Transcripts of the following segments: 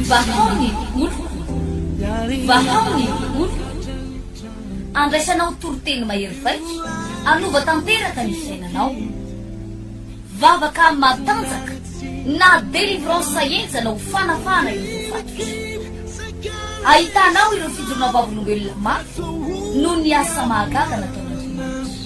Vahao ny oloko, vahao ny oloko, andraisanao toriteny mahery vaika, anova tanteraka ny fiainanao. Vavaka matanjaka na délivrance enjana ho fanafahana ireo voafatotry. Ahitanao ireo fijoroana vavolombelona mafy noho ny asa mahagaga nataon'Andriamanitra.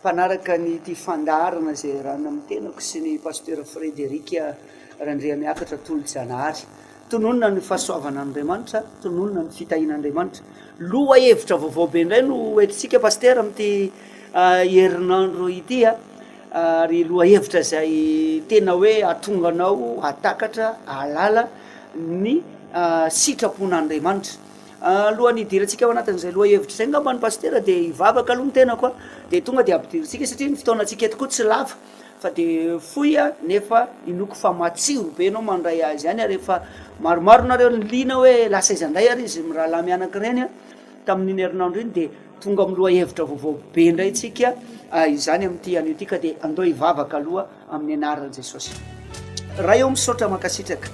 Mpanaraka ny ity fandaharana izay iarahana amin'ny tenako sy ny Pasteur Frederic Randriamiakatra Tolojanahary. Tononina ny fahasoavana an'Andriamanitra, tononina ny fitahiana Andriamanitra. Loha hevitra vaovao be indray no entintsika Pasteur amin'ity herinandro ity a! ary loha hevitra izay tena hoe hahatonga anao hahatakatra, hahalala ny sitrapon'Andriamanitra. Alohan'ny hidirantsika ao anatin'izay lohahevitra izay angamba ny Pasitera dia hivavaka aloha ny tenako a, dia tonga dia ampidirintsika satria ny fotoanantsika eto koa tsy lava fa dia fohy a, nefa inoako fa matsiro be ianao mandray azy any ary efa maromaro nareo no liana hoe lasa aiza indray ary izy mirahalahy mianaka ireny a, tamin'iny herinandro iny dia tonga amin'ny lohahevitra vaovao be indray tsika izany amin'ity anio ity ka dia andao hivavaka aloha. Amin'ny anaran'i Jesosy. Ray ô misaotra mankasitraka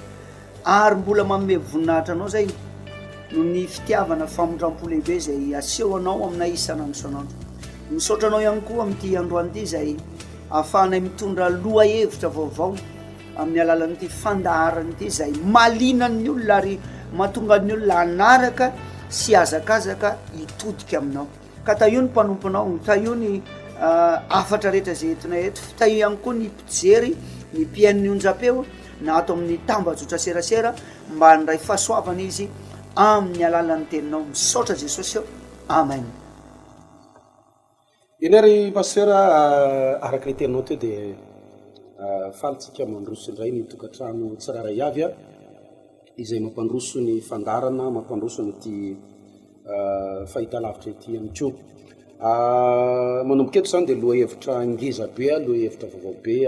ary mbola manome voninahitra anao zay noho ny fitiavana famindrampo lehibe zay asehonao aminay isan'andro isan'andro misaotra anao ihany koa amin'ity androany ity zay ahafahanay mitondra loha hevitra vaovao amin'ny alalan'ity fandaharana ity zay malinan'ny olona ary matonga ny olona anaraka sy azakazaka hitodika aminao Ka tahio ny mpanomponao, tahio ny hafatra rehetra izay entinay eto, tahio ihany koa ny mpijery, ny mpihaino ny onjam-peo na ato amin'ny tambajotran-tserasera mba handray fahasoavana izy amin'ny alalan'ny teninao. Misaotra Jesosy ô! Amen. Irery ry Pasteur a, araka le teninao teo dia faly tsika mandroso indray ny tokantrano tsirairay avy a. izay mampandroso ny fandaharana, mampandroso an'ity fahitalavitra ity ihany koa. Manomboka eto izany dia lohahevitra ngeza be, lohahevitra vaovao be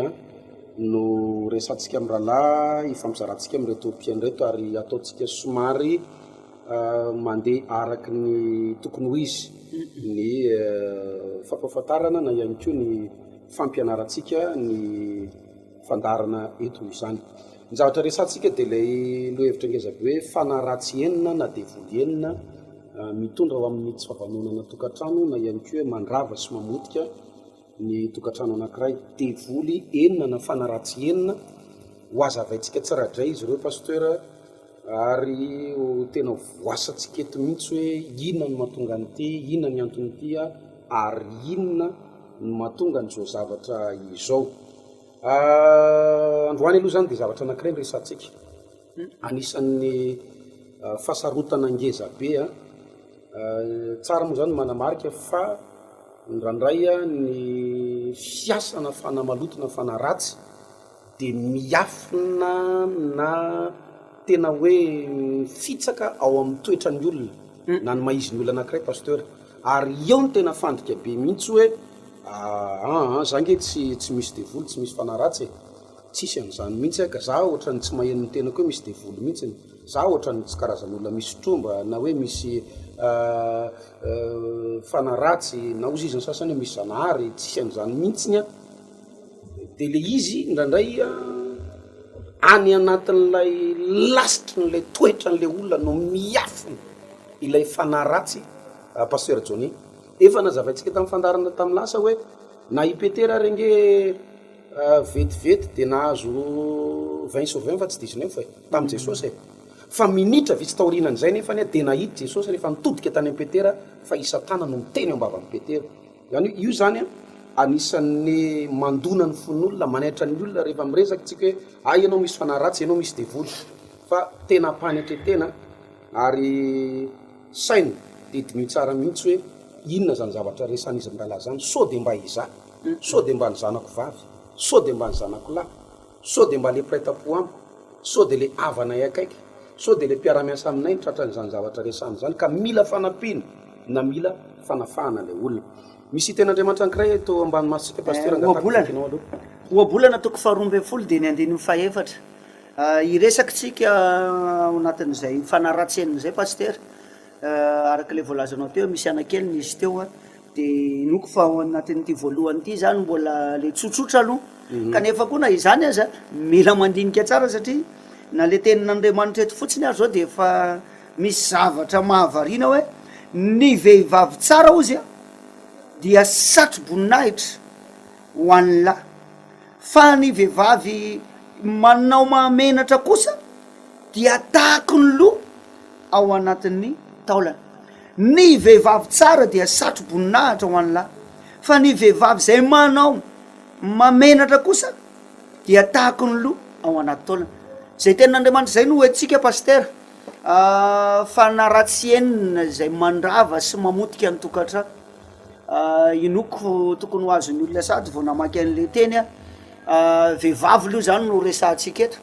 no resahantsika amin'ny rahalahy, hifampizarantsika amin'ireto mpino ireto ary ataontsika somary mandeha araka ny tokony ho izy ny fampahafantarana na ihany koa ny fampianarantsika ny. fandaharana eto izany. Ny zavatra resahantsika dia ilay lohahevitra ngeza be hoe fanahy ratsy enina na devoly enina mitondra ho amin'ny tsy fahavaononana an-tokantrano na ihany koa hoe mandrava sy mamotika ny tokantrano anankiray. Devoly enina na fanahy ratsy enina, ho hazavaintsika tsirairay izy ireo Pasteur Ary ho tena voasantsika eto mihitsy hoe inona no mahatonga an'ity, inona ny anton'ity ary inona no mahatonga an'izao zavatra izao. Androany aloha izany dia zavatra anankiray no resahantsika, anisan'ny fahasarotana ngeza be. Tsara moa izany ny manamarika fa indraindray ny fiasana fanahy maloto na fanahy ratsy dia miafina na tena hoe mifitsaka ao amin'ny toetran'ny olona na ny maha-izin'ny olona anankiray Pasteur, ary eo no tena fandrika be mihitsy hoe aa za nge tsy tsy misy devoly tsy misy fanahy ratsy e! tsisy an'izany mihitsy aka, za ohatran'ny tsy maheno ny tenako hoe misy devoly mihitsy, za ohatran'ny tsy karazan'olona misy tromba na hoe misy fanahy ratsy na hozy izy ny sasany hoe misy zanahary, tsisy an'izany mihitsy an! De le izy indraindray any anatin'ilay lasitry ny le toetra an'le olona no miafina ilay fanahy ratsy Pasteur Johnny. Efa nazavaintsika tamin'ny fandaharana tamin'ny lasa hoe na i Petera ary ange vetivety de nahazo vingt sur vingt fa tsy dix neuf e, tamin'i Jesosy e. Fa minitra vitsy taorianan'izay nefany de nahita Jesosy rehefa nitodika tany amin'i Petera fa i Satana no niteny ao am-bavan'i Petera. Izany hoe io izany an, anisan'ny mandona ny fon'olona, manaitra ny olona rehefa miresaka isika hoe hay ianao misy fanahy ratsy, ianao misy devoly fa tena am-panetren-tena ary saina dia diniho tsara mihitsy hoe inona izany zavatra resahan'izy mirahalahy izany, sao dia mba izaho, sao dia mba ny zanako vavy, sao dia mba ny zanako lahy. Sao dia mba ilay mpiray tampo amiko? Sao dia ilay havanay akaiky? Sao dia ilay mpiara-miasa aminay no tratran'izany zavatra resahana izany ka mila fanampiana na mila fanafahana ilay olona? Misy hiten'Andriamanitra anankiray eto ambany masontsika, Pasitera, angatahako ny takinao aloha. Ohabolana toko faharoa ambin'ny folo dian'ny andininy fahefatra. Hiresaka tsika ao anatin'izay mifanaratsy aminy izay Pasitera, araka ilay voalazanao teo, misy anakely nisy teo Dia inoako fa ao anatin'ity voalohany ity izany mbola ilay tsotsotra aloha, kanefa koa na izany aza mila mandinika tsara satria na ilay tenin'Andriamanitra eto fotsiny ary izao dia efa misy zavatra mahavariana hoe, ny vehivavy tsara hozy dia satro-boninahitra ho an'ny lahy, fa ny vehivavy manao mahamenatra kosa dia tahaky ny loha ao anatin'ny taolana. Ny vehivavy tsara dia satro-boninahitra ho an'ny lahy, fa ny vehivavy izay manao mamenatra kosa dia tahaky ny lo ao anaty taolana. Izay tenin'Andriamanitra izay no hoentsika Pasitera fa na raha tsy henona izay mandrava sy mamotika ny tokantrano. Inoako tokony ho azon'ny olona sahady vao namaky an'ilay teny aho. Vehivavy aloha izany no resahantsika eto,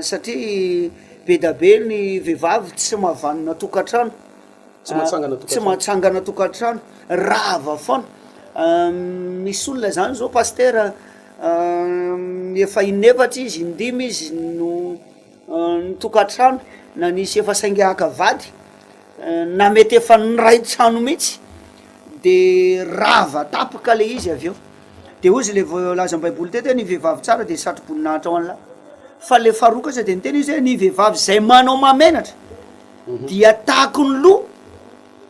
satria be dia be ny vehivavy tsy mahavanona tokantrano, tsy mahatsangana tokantrano, rava foana. Misy olona izany zao pasitera efa in'efatra izy, indimy izy no. ny tokantrano na nisy efa saingy haka vady na mety efa niray trano mihitsy de rava tapaka le izy avy eo de hoy izy le voalazan'ny baiboly teto hoe ny vehivavy tsara de satroboninahitra ho an'ny lahy fa le faharoa kosa de niteny izy hoe ny vehivavy zay manao mahamenatra dia takon'ny loha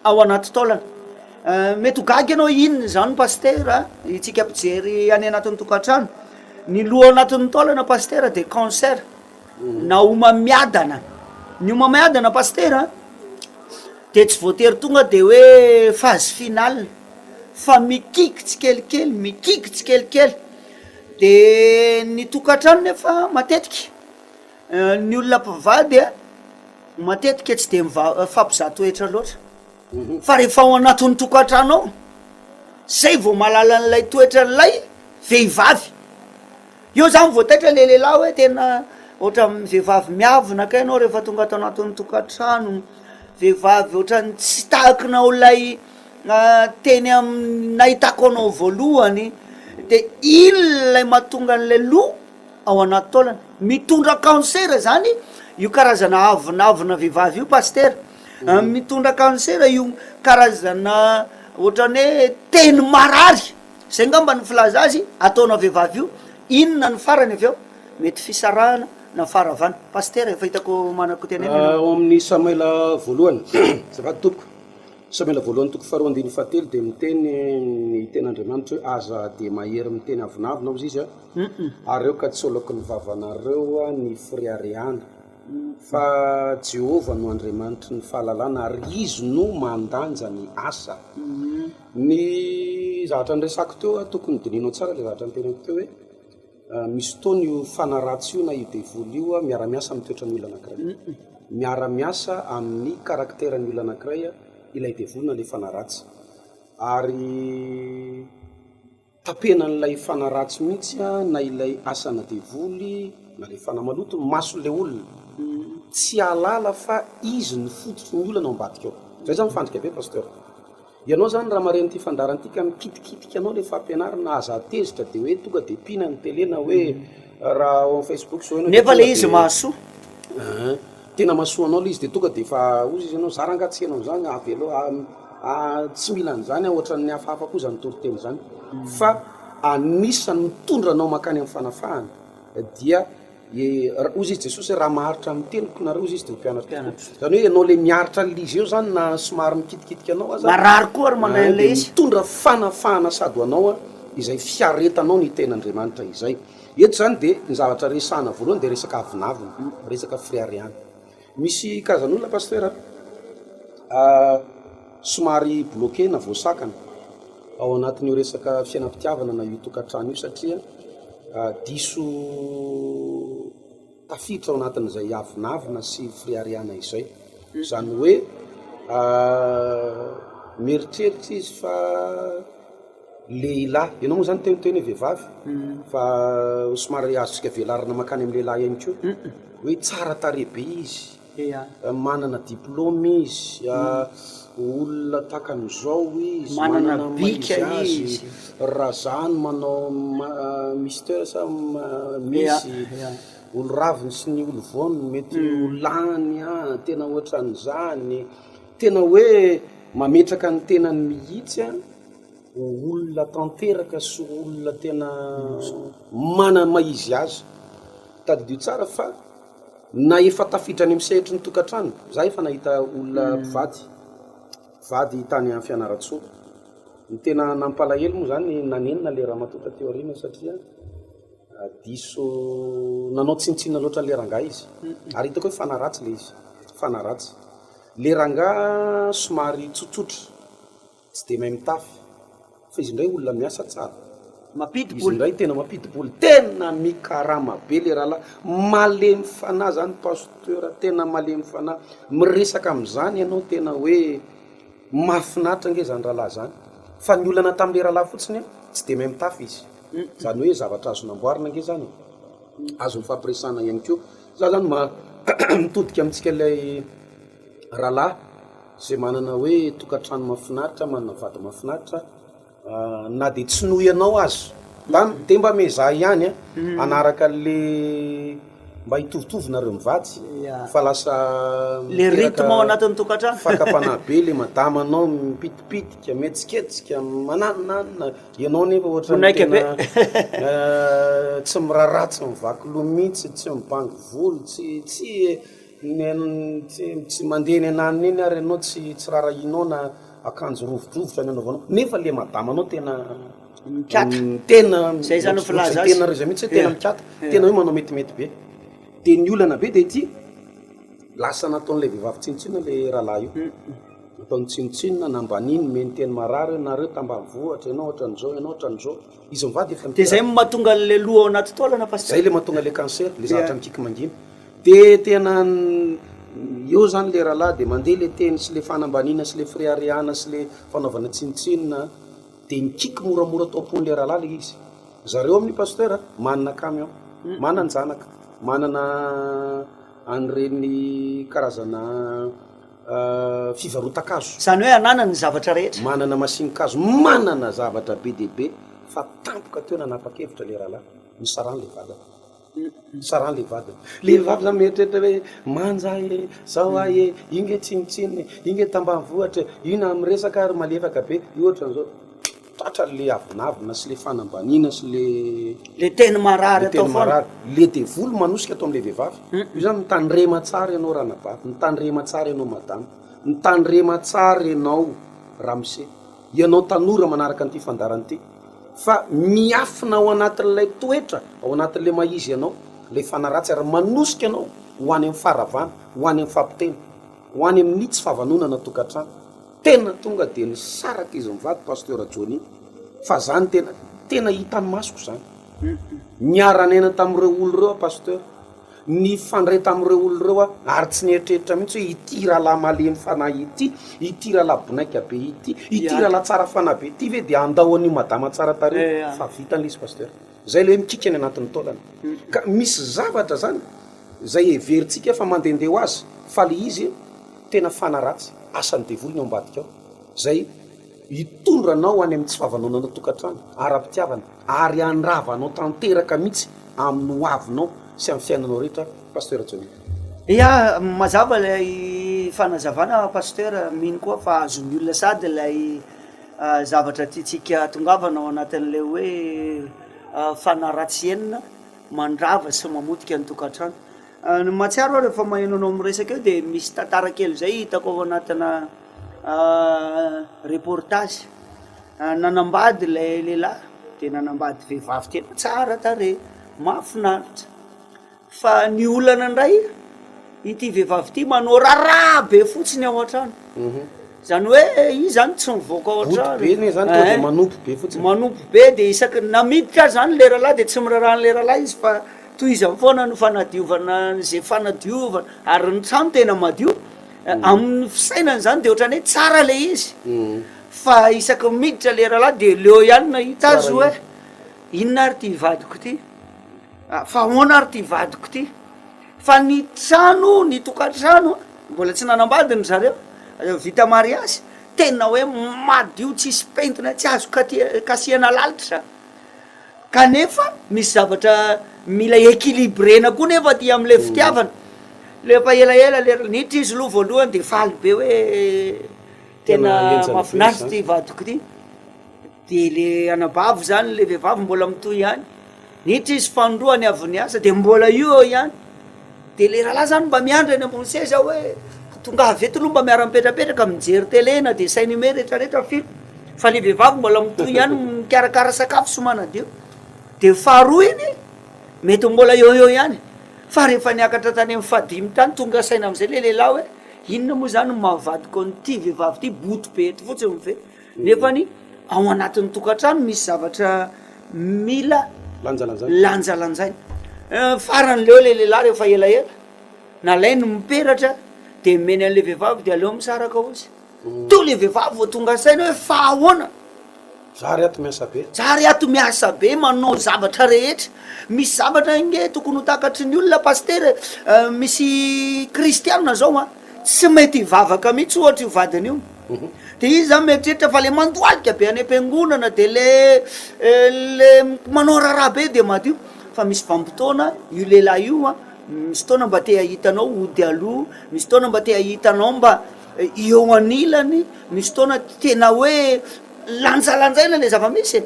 ao anaty taolana. Mety ho gaga ianao inona izany pasitera itsika mpijery any anatin'ny tokantrano, ny loha ao anatin'ny taolana pasitera dia cancer na homamiadana, ny homamiadana pasitera dia tsy voatery tonga dia hoe phase finale fa mikiky tsikelikely mikiky tsikelikely, dia ny tokantrano nefa matetika. Ny olona mpivady matetika tsy dia mifampizaha toetra loatra, fa rehefa ao anatin'ny tokantrano ao, zay vao mahalala an'ilay toetran'ilay vehivavy, eo zany vao taitra le lehilahy hoe tena ohatran'ny vehivavy miavona kay ianao rehefa tonga ato anatin'ny tokantrano, vehivavy ohatran'ny tsy tahakinao ilay teny amin'ny nahitako anao voalohany, de iny ilay mahatonga an'ilay loha. ao anaty taolana. Mitondra kansera zany io karazana avonavona vehivavy io Pasitera a, mitondra kansera io karazana ohatrany hoe teny marary, zay angamba ny filaza azy, ataona vehivavy io, inona ny farany avy eo? mety fisarahana na faharavana. Pasitera efa hitako manako tenena ianao. Ao amin'ny Samoela voalohany, azafady tompoko, Samoela voalohany toko faharoa andininy fahatelo dia miteny ny tenin'Andriamanitra hoe aza dia mahery miteny avonavona hozy izy a, Humm areo ka tsy oloky ny vavanareo ny fireharehana fa Jehovah no Andriamanitry ny fahalalana ary Izy no mandanja ny asa. Ny zavatra niresako teo a, tokony dinihinao tsara le zavatra niteneniko teo hoe misy fotoana io fanahy ratsy io na io devoly io a miara miasa amin'ny toetran'ny olona anankiray, miara miasa amin'ny karakteran'ny olona anankiray ilay devoly na le fanahy ratsy ary. Tapenan'ilay fanahy ratsy mihitsy na ilay asana devoly na ilay fanahy maloto ny mason'ilay olona tsy hahalala fa izy no fototry ny olana ao ambadika ao. Zay zany fandrika be Pasteur. Ianao zany raha maren'ity fandaharana ity ka mikitikitika anao le fampianarana aza tezitra de hoe tonga de mpiana ny tele na hoe raha ao am Facebook zao ianao de tonga de. Nefa le izy mahasoa. An. Tena mahasoa anao le izy de tonga de efa ozy izy anao, za ranga tsy enao zany avelo tsy mila an'zany ah ohatran'ny hafahafa koa zany toriteny zany fa anisan'ny mitondra anao mankany amin'ny fanafahana dia ozy izy Jesosy hoe raha maharitra ny teniko nareo ozy izy de ho mpianatry tompoko, zany hoe enao le miaritra an'le izy eo zany na somary mikitikitika anao aza, marary koa ary manao an'le izy, mitondra fanafahana sady ho anao izay fiaretanao ny tenin'Andriamanitra izay. Eto izany dia ny zavatra resahana voalohany dia resaka avonavona, resaka fireharehana. Misy karazan'olona Pasitera somary bloqué na voasakana ao anatin'io resaka fiainam-pitiavana na io tokantrano io satria diso Tafiditra ao anatin'izay avonavona sy firiariana izay. Izany hoe mieritreritra izy fa lehilahy, ianao moa izany te ho tena hoe vehivavy fa somary azontsika velarina mankany amin'ny lehilahy ihany koa, hoe tsara tarehy be izy. Manana diplôme izy, olona takany izao izy, manana ny maha izy azy, raha za no manao Mister sa Miss, olo raviny sy ny olo voany mety ho lany an, tena ohatran'izany, tena hoe mametraka ny tenany mihitsy an, ho olona tanteraka sy ho olona tena manana ny maha izy azy, tadidio tsara fa. Na efa tafiditra any amin'ny sehatry ny tokantrano, izaho efa nahita olona mpivady, mpivady tany Fianarantsoa. Ny tena nampalahelo moa izany, nanenina ilay ramatoa taty aoriana satria diso nanao tsinontsinona loatra an'ilay rangahy izy, ary hitako hoe fanaratsy ilay izy, fanaratsy. Ilay rangahy somary tsotsotra. Tsy dia mahay mitafy fa izy indray olona miasa tsara. Mampidi-bola. Izy indray tena mampidi-bola. Tena mikarama be le rahalahy. Malemy fanahy zany Pasteur, tena malemy fanahy. Miresaka amin'izany ianao tena hoe mahafinaritra ange zany rahalahy zany. Fa ny olana tamin'le rahalahy fotsiny an, tsy dia mahay mitafy izy. Zany hoe zavatra azo namboarina ange zany e. Azo nifampiresahana ihany koa. Za zany ma mitodika amintsika ilay. Rahalahy izay manana hoe tokantrano mahafinaritra, manana vady mahafinaritra, na dia tsy noho ianao aza, mba dia mba miezaha ihany an, hanaraka anle mba hitovitovy nareo mivady fa lasa miteraka fakam-panahy be le madama anao, mipitipitika, mihetsiketsika, mananonanona, ianao nefa ohatran'ny tena tsy miraharaha, tsy mivaky loha mihitsy, tsy mibango volo, tsy, tsy e. Tsy mandeha eny ananona eny ary enao tsy rarahinao na akanjo rovidrovitra ny anaovanao nefa le madama anao tena Mikata. Tena Zay izy no filaza azy. Tena izy mihitsy hoe tena mikata, tena hoe manao metimety be. De ny olana be de ity, lasa nataon'ilay vehivavy tsinontsinona le rahalahy io. Nataony tsinontsinona, nambaniny, nomeny teny marary hoe nareo tambanivohitra, enao ohatran'izao, enao ohatran'izao. Izy mivady efa miteraky. De zay matonga anle loha ao anaty taolana pasteur. Zay le matonga le cancer le zatra mikiky mangina de tena eo zany le ralahy de mande le teny sy le fanambanina sy le fireharehana sy le fanaovana tsinotsinona de mikiky moramora ato ampony le ralahy le izy zareo aminy pasteur manana camion mananjanaka manana anreny karazana fivarotan-kazo. Izany hoe ananany ny zavatra rehetra. Manana masin-kazo, manana zavatra be dia be fa tampoka teo nanapa-kevitra ilay rahalahy, nisarany ilay vadiny. Nisarany ilay vadiny. Ilay vavy izany mieritreritra hoe, manja e, izao ahy e, io nge tsinontsinona e, io nge tambanivohitra e, io na miresaka ary malefaka be, io ohatran'izao. Tratra le avonavona sy le fanambaniana sy le. Le teny marary atao foana. Le teny marary. Le devoly manosika ato amin'ilay vehivavy. Io zany mitandrema tsara ianao ranabavy, mitandrema tsara ianao madama, mitandrema tsara ianao ramose, ianao tanora manaraka an'ity fandaharana ity fa miafina ao anatin'ilay toetra, ao anatin'ilay maha izy anao ilay fanahy ratsy ary manosika anao ho any amin'ny faharavana, ho any amin'ny fampitena, ho any amin'ny tsy fahavanonana tokantrano. Tena tonga dia nisaraka izy mivady Pasteur Johnny fa zany tena tena hitan'ny masoko zany. Niara niaina tamin'ireo olo ireo aho Pasteur, nifandray tamin'ireo olo ireo aho ary tsy nieritreritra mihitsy hoe ity rahalahy malemy fanahy ity, ity rahalahy bonaika be ity, ity rahalahy tsara fanahy be ity ve dia handao an'io madama tsara tarehy fa vitany le izy Pasteur. Zay le hoe mikiky any anatin'ny taolana. Ka misy zavatra zany zay heverintsika fa mandende ho azy fa le izy tena fana ratsy, asan'ny devoly ny ao ambadika ao zay hitondra anao any amin'ny tsy fahavaloananao tokantrano ara-pitiavana ary handrava anao tanteraka mihitsy amin'ny ho avinao sy amin'ny fiainanao rehetra Pasteur Johnny. Ia, mazava ilay fanazavana Pasteur, mino koa fa azon'ny olona sady ilay. zavatra tiantsika tongavana ao anatin'ilay hoe fanahy ratsy enina mandrava sy mamotika ny tokantrano. Ny mahatsiaro aho rehefa maheno anao miresaka eo dia misy tantara kely izay hitako ao anatina reportage, nanambady ilay lehilahy dia nanambady vehivavy tena tsara tarehy, mahafinaritra. Fa ny olana indray, ity vehivavy ity manao raharaha be fotsiny ao an-trano. Izany hoe izy izany tsy mivoaka ao Ody an-trano. be anie izany, tonga dia Ehe. manopy be fotsiny. Manopy be dia isaky, na miditra aza izany ilay rahalahy dia tsy miraharaha an'ilay rahalahy izy fa tohizany foana ny fanadiovana izay fanadiovana, ary ny trano tena madio. Amin'ny fisainany izany dia ohatran'ny hoe tsara ilay izy. Fa isaky ny miditra ilay rahalahy dia leo ihany nahita azy Tsara hoe inona ary ity vadiko ity. Fa ahoana ary ty vadiko ty? Fa ny trano, ny tokantrano mbola tsy nanambady ny zareo, vita mariazy, tena hoe madio tsisy pentina, tsy azo kasihana lalitra zany, kanefa misy zavatra mila equilibrena koa nefa aty amle fitiavana, rehefa elaela le ranitra izy loha voalohany de faly be hoe tena mafinaritra ty vadiko ty. Dia le anabavy zany le vehivavy mbola mitohy ihany, niditra izy fanindroany avy niasa dia mbola io eo ihany, dia le rahalahy zany mba miandry eny ambony seza hoe tongava eto aloha mba miara-mipetrapetraka mijery tele na dessin anime retraretra film, fa le vehivavy mbola mitohy ihany mikarakara sakafo sy manadio, dia faharoa iny mety mbola eo eo ihany, fa rehefa niakatra tany amin'ny fahadimy tany tonga saina amizay le lehilahy hoe inona moa zany no maha vadiko an'ity vehivavy ty, boto be eto fotsiny ve. Nefa ny ao anatin'ny tokantrano misy zavatra mila lanjalanjaina. Farany leo ilay lehilahy rehefa elaela, nalainy ny peratra dia nomeny an'ilay vehivavy dia aleo misaraka hozy. Toa ilay vehivavy vao tonga saina hoe fa ahoana? Za re ato miasa be. Za re ato miasa be manao zavatra rehetra. Misy zavatra ange tokony ho takatry ny olona Pasitera e! Misy Kristianina zao an, tsy mety hivavaka mihitsy ohatra io vadiny io. De izy zany mieritreritra fa le mandohalika be any am-piangonana de le le manao raharaha be de madio fa misy vanim-potoana io lehilahy io an misy fotoana mba te hahita anao hody aloha misy fotoana mba te hahita anao mba eo anilany misy fotoana tena hoe lanjalanjaina le zava-misy e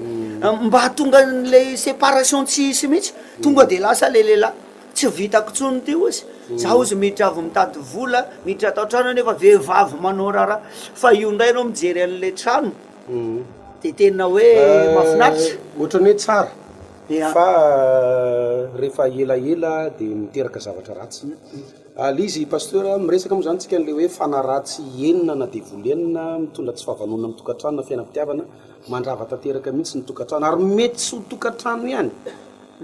mba hahatonga an'le separation tsy hisy mihitsy tonga de lasa le lehilahy Tsy vitako tsony ty ozy za ozy miditra avy mitady vola miditra tao trano nefa vehivavy manao raharaha fa io ndray enao mijery anle trano de tena hoe mafinaritra otrany hoe tsara fa refa ela ela de miteraka zavatra ratsy al izy pasteur miresaka mo zany tsika anle hoe fanahy ratsy enina na devoly enina mitondra tsy fahavanona am tokatrano na fiainam pitiavana mandrava tanteraka mintsy ny tokatrano ary mety tsy ho tokatrano ihany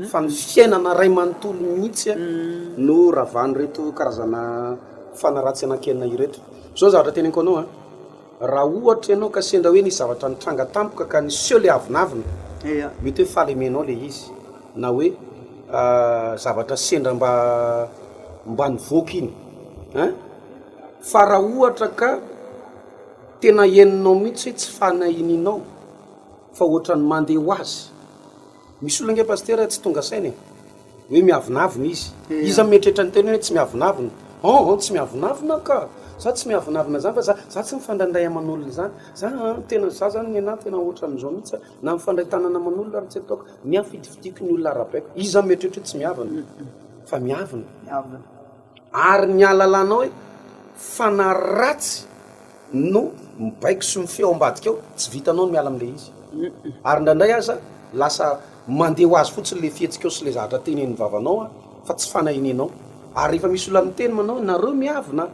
fa ny fiainana iray manontolo mihitsy no ravan'ireto karazana fanaratsy anankienina ireto. Zao ny zavatra teneniko anao an, raha ohatra ianao ka sendra hoe nisy zavatra nitranga tampoka ka niseho le avonavona, mety hoe fahalemenao le izy na hoe zavatra sendra mba mba nivoaka iny an, fa raha ohatra ka tena henonao mihitsy hoe tsy fanahininao fa ohatran'ny mande ho azy. Misy olona ange Pasitera tsy tonga saina e! Hoe miavonavona izy. Iza no mieritreritra ny teny hoe tsy miavonavona? Hon hon tsy miavonavona aho ka! Za tsy miavonavona zany fa za za tsy mifandrandray aman'olona zany. Za an tena za zany nenah tena ohatran'izao mihitsy a! Na mifandray tanana aman'olona ary tsy ataoko. Ny ahy fidifidiko ny olona arabaiko. Iza no mieritreritra hoe tsy miavona? Fa miavona. Ary ny halalanao hoe fanahy ratsy no mibaiko sy mifehy ao ambadika ao, tsy vitanao ny miala amin'ilay izy. Ary indraindray aza lasa mandeha ho azy fotsiny ilay fihetsikao sy ilay zavatra tenenin'ny vavanao fa tsy fanahy nenao. Ary rehefa misy olona miteny manao hoe nareo miavona,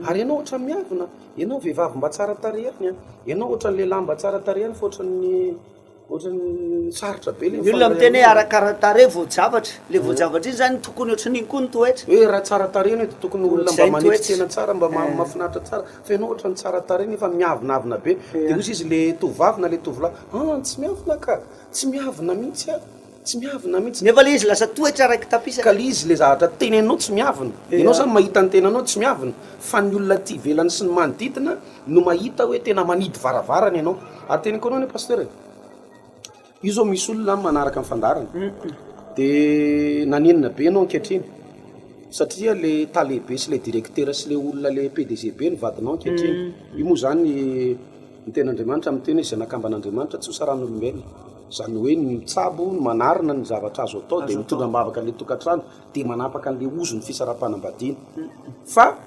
ary ianao ohatran'ny miavona, ianao vehivavy mba tsara tarehy ihany, ianao ohatran'ny lehilahy mba tsara tarehy ihany fa ohatran'ny. Ny olona miteny hoe arakaranin-tarehy voajavatra, ilay voajavatra iny izany tokony ohatran'iny koa ny toetra. Hoe raha tsara tarehy ianao dia tokony olona mba manetry tena tsara, mba mahafinaritra tsara, fa ianao ohatran'ny tsara tarehy nefa miavonavona be, dia hoy sisa ilay tovovavy na ilay tovolahy, an! tsy miavona ka! tsy miavona mihitsy an! Tsy miavona mihitsy. Nefa le izy lasa toetra raiki-tapisa. Ka le izy le zavatra tenenanao tsy miavona. Ianao zany mahita ny tenanao tsy miavona fa ny olona aty ivelany sy ny manodidina no mahita hoe tena manidy varavarana ianao. Ary teneniko anao anie Pasteur e, io zao misy olona an manaraka ny fandaharana de nanenina be ianao ankehitriny satria le tale be sy le directeur sy le olona le PDG be no vadinao ankehitriny. Io moa zany. Ny Tenin'Andriamanitra miteny hoe izay nakambana Andriamanitra tsy hosaran'olombelona. Izany hoe ny mitsabo, ny manarina ny zavatra azo atao dia mitondra am-bavaka an'ilay tokantrano dia manapaka an'ilay ozon'ny fisaraham-panambadiana. Fa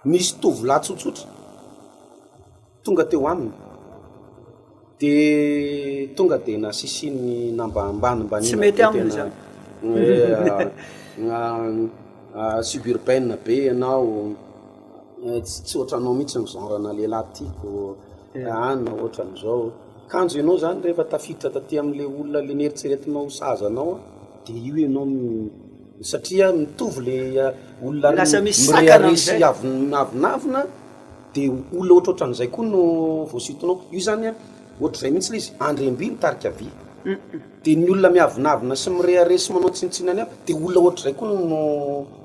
nisy tovolahy tsotsotra tonga teo aminy dia tonga dia nasisiany nambanimbaniana be tena hoe suburbaine be ianao. Tsy ohatranao mihitsy ny genre ana lehilahy tiako an, ohatrany zao, kanjo enao zany rehefa tafiditra taty amle olona le neritreretinao ho saza anao an, de io enao no satria mitovy le olona mirehareha sy avonavona de olona ohatrohatran'izay koa no voasintonao, io zany an ohatrizay mihitsy le izy, andriamby mitarika vy. Dia ny olona miavonavona sy mirehareha sy manao tsinontsinona ny hafa, dia olona ohatr'izay koa no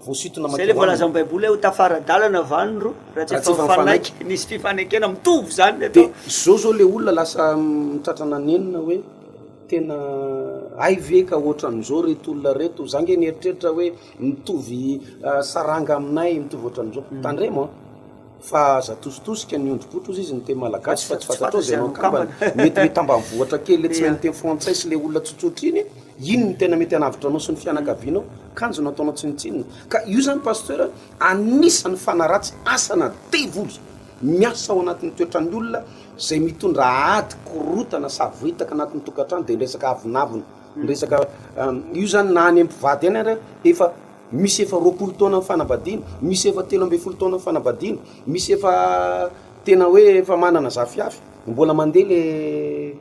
voasintona mankeo aminy. Izay ilay voalazan'i Baiboly hoe, Ho tafara-dalana va ny roa, raha tsy efa mifanaiky? Nisy fifanekena mitovy izany ny atao. Dia izao izao ilay olona lasa mitratra nanenina hoe, Tena hay ve ka ohatran'izao ireto olona ireto? Izaho ange nieritreritra hoe mitovy saranga aminay, mitovy ohatran'izao. Tandremo an! Fa aza atositosika ny ondribotry ozy izy niteny malagasy fa tsy fantatrao izay no akambany. Mety mety ambanivohitra kely le tsy mahay miteny frantsay sy le olona tsotsotry iny iny no tena mety hanavotra anao sy ny fianakavianao kanjo no ataonao tsinotsinona. Ka io zany pasteur anisany fanaratsy asa na devoly miasa ao anatin'ny toetran'ny olona zay mitondra ady korotana savoritaka anatin'ny tokantrano de ny resaka avonavona ny resaka io zany na any mpivady any ary efa Misy efa roapolo taona ny fanambadiana, misy efa telo ambin'ny folo taona ny fanambadiana, misy efa tena hoe efa manana zafiafy, mbola mandeha le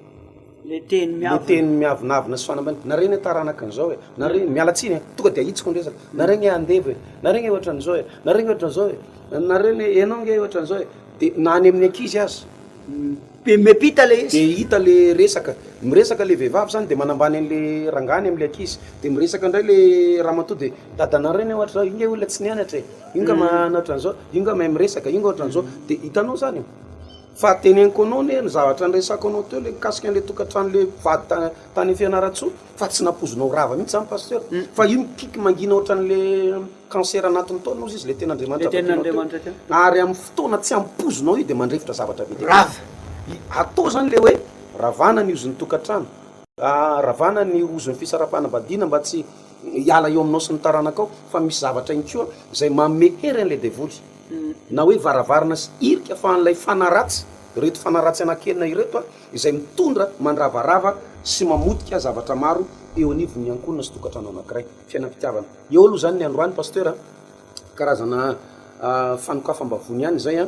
le teny miavonavona sy fanambadiana, nareo anie taranaka an'izao e, nareo anie, miala tsiny e, tonga dia ahitsiko ny resaka, nareo anie andevo e, nareo anie ohatran'izao e, nareo anie ohatran'izao e, nareo anie, ianao ange ohatran'izao e, de na any amin'ny ankizy aza. De hita le resaka, miresaka le vehivavy zany de manambany anle rangahiny amle ankizy de miresaka ndray le ramatoa de dadanareo anie ohatra zao io nge olona tsy nianatra e, io nga manana otranzao, io nga mahay miresaka, io nga otranzao, de hitanao zany e, fa teneniko anao anie ny zavatra niresako anao teo le mikasika anle tokantrano le mpivady ta- tany Fianarantsoa fa tsy nampoizinao rava mitsy zany pasteur fa io mikiky mangina otranle. Cancer anatin'ny taona ozy izy le tenin'Andriamanitra avy aty no atao ary amin'ny fotoana tsy ampoizinao io dia mandrefitra zavatra be dia be. Rava. Atao izany ilay hoe ravana ny ozin'ny tokantrano, ravana ny ozin'ny fisaraham-panambadiana mba tsy hiala eo aminao sy ny taranakao fa misy zavatra ihany koa izay manome hery an'ilay devoly na hoe varavarana sy hirika afahan'ilay fanahy ratsy, ireto fanahy ratsy anankienina ireto izay mitondra, mandravarava sy mamotika zavatra maro eo anivon'ny ankohonana sy tokantrano anankiray. fiainam-pitiavana. Eo aloha zany ny androany Pasteur a, karazana fanokafam-bavony ihany izay a,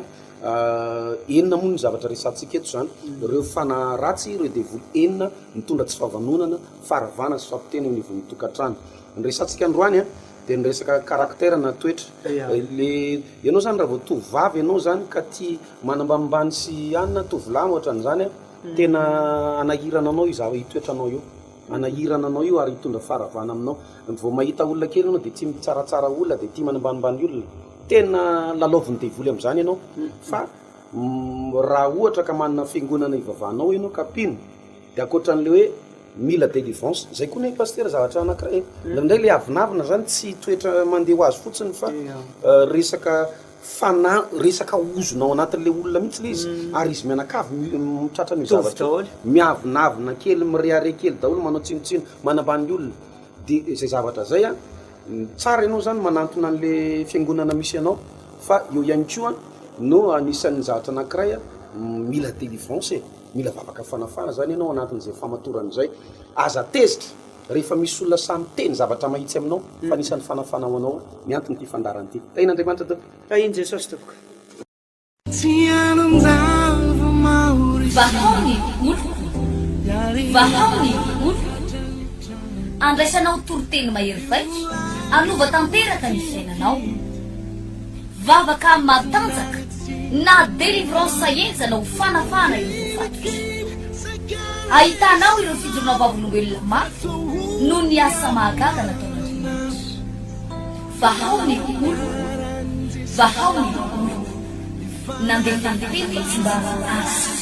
enina moa ny zavatra resahantsika eto zany, ireo fanahy ratsy, ireo devoly enina mitondra tsy fahavanonana, faharavana sy fampitena eo anivon'ny tokantrano. Ny resahantsika androany a dia ny resaka caractère na toetra, le ianao zany raha vao tovovavy ianao zany ka tia manambanimbany sy anona, tovolahy no ohatran'izany a, tena hanahirana anao io zava- io toetranao io. Hanahirana anao io ary hitondra faharavana aminao. Vao mahita olona kely ianao dia tia mitsaratsara olona, dia tia manambanimbany olona. Tena lalaovin'ny devoly amin'izany ianao. Fa raha ohatra ka manana fiangonana ivavahanao ianao ka mpino dia ankoatran'ilay hoe mila délivrance, izay koa anie Pasitera zavatra anankiray e. Indraindray ilay avonavona izany tsy toetra mandeha ho azy fotsiny fa resaka Fa na resaka ozona ao anatin'ilay olona mihitsy ilay izy ary izy mianakavy mitratra an'io zavatra io. Mitovy daholo. Miavonavona kely, mirehareha kely daholo, manao tsinontsinona, manambany ny olona. Dia izay zavatra izay an, tsara ianao izany manantona an'ilay fiangonana misy anao fa eo ihany koa no anisan'ny zavatra anankiray an, mila délivrance e, mila vavaka fanafahana izany ianao anatin'izay famatorana izay. Aza tezitra. Rehefa misy olona sahy miteny zavatra mahitsy aminao fa anisan'ny fanafana ho anao ny anton'ity fandaharana ity. Tahin'Andriamanitra tompoko. Tahin'i Jesosy tompoko. Vahao ny oloko, vahao ny oloko, andraisanao toriteny mahery vaika, hanova tanteraka ny fiainanao. Vavaka matanjaka na delivrance sahenjana ho fanafahana ireo voafatrika. Ahitanao ireo fijoroana vavolombelona mafy noho ny asa mahagaga nataon'Andriamanitra. Vahao ny oloko, vahao ny oloko. Nandefa ny teny ny tsimbavy azy.